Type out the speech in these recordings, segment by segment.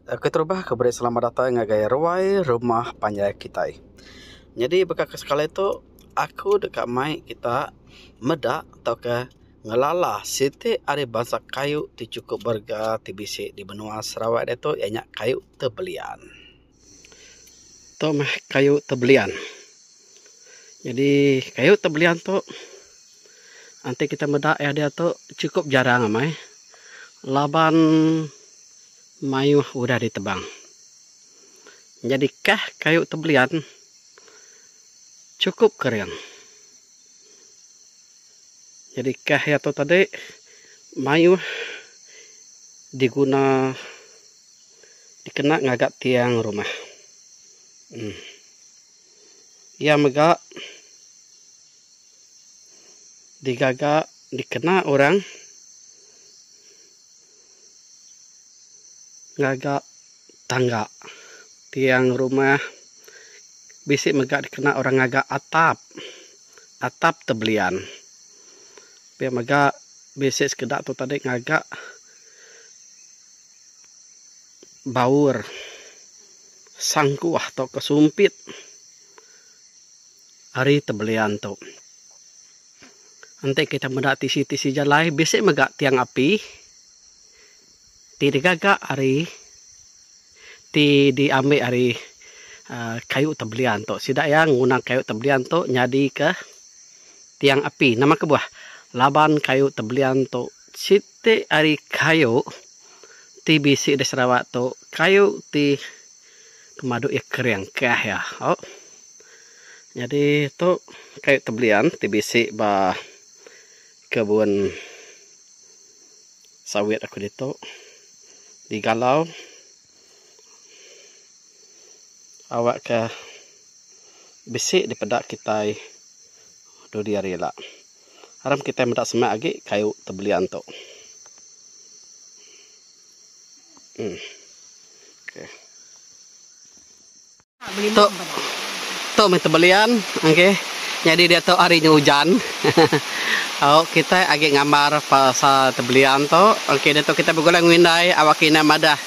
Keterubah aku beri selamat datai ngagai ruai rumah panjai kitai. Nyadi baka ke sekali tu aku deka mai kita meda tauka ngelala siti ari bansa kayu ti chukup berega ti bisi di menua Sarawak ditu iya nya kayu tebelian. Tu mah kayu tebelian jadi kayu tebelian tu enti kita meda iya dia tu cukup jarang amai laban maioh udah ditebang jadi kah kayu tebelian cukup kering jadi kah iya tu tadi maioh diguna. dikena ngaga tiang rumah. Um iya mega digaga dikena orang ngaga tangga. Tiang rumah bisi mega dikena orang ngaga atap. Atap te belian. Pia mega bisi sekeda tu tadi ngaga. baur sangkuh tauka sumpit ari tebelian tu. Enti kita meda tisi-tisi jalai bisi mega tiang api ti digaga ari ti diambi ari aaa kayu tebelian tu. Sida iya nguna kayu tebelian tu nyadika tiang api. Nama kebuah laban kayu tebelian tu siti Ti ari kayu ti bisi di Sarawak tu kayu ti pemadu iya kering kah iya au. Nyadi tu kayu tebelian ti bisi ba kebun sawit aku ditu digalau awakka bisi dipeda kitai dudi hari ila. Aram kitai meda semak agi kayu tebelia tu. Hmm. Okay. Tu tu meh tebelian okey. Jadi dia tu hari nya ujan. Au kita agi ngambar pasal tebelian tu. Okey dia tu kita begulai ngu indai awak kina madah.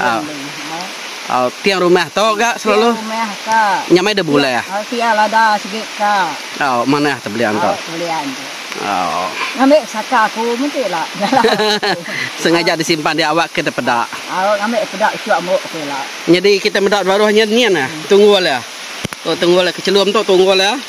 Au. Au tiang rumah tu ga selalu. Tiang rumah ka. Nya mai de bulah. Ya, au tiang lada sigi ka. Au manah tu belian tu. Au belian tu. Au. Ngambi saka aku menti la. Sengaja disimpan dia awak ke depeda. Au ngambi peda usuh ambo aku la. Nyadi kita meda baruh nyen nyen ah. Tunggul ah. Tu tunggul ah kechelum tu tunggul ah.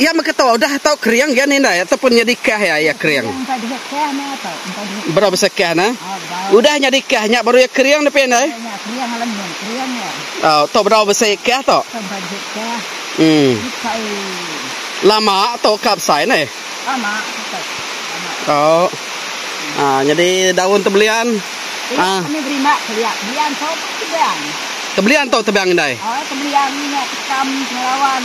Iya meketo udah tau kering gian indai atau pun nyadi kah iya iya kering. Bra besa kah na. Udah nyadi kah nya baru iya kering nepi indai. Au to bedau besi kah to. Hmm. Lama to ka besai ne. Lama. Oh. Ah nyadi daun tebelian. Ah. Kami beri mak keliak belian to tebang. Tebelian to tebang indai. Oh tebelian nya tekam pengawan.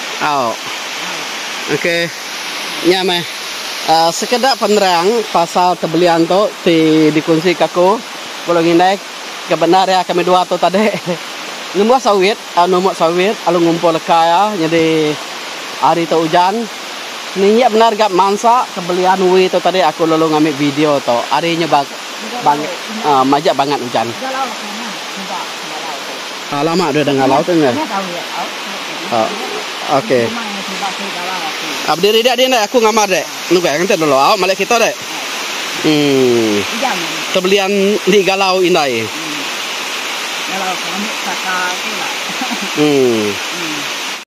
Au. Okey. Nya meh aaa sekeda penerang pasal tebelian tu ti dikonsika aku belum indai ke bendar iya kami dua tu tadi. Numbuh sawit, numuk sawit lalu ngumpul leka iya nyadi hari tu ujan. Ninggi bendar ga mansa tebelian uwi tu tadi aku lalu ngambi video tu. Hari nya ba ba majak bangat ujan. Haa lama deh dengah laut nya. Haa okey. Haa bediri dek dek aku ngamar dek. Nugai ngenti dulu au malik kita dek. Hmm. Tebelian di galau indai. Galau ke ambil saka tu lah. Hmm.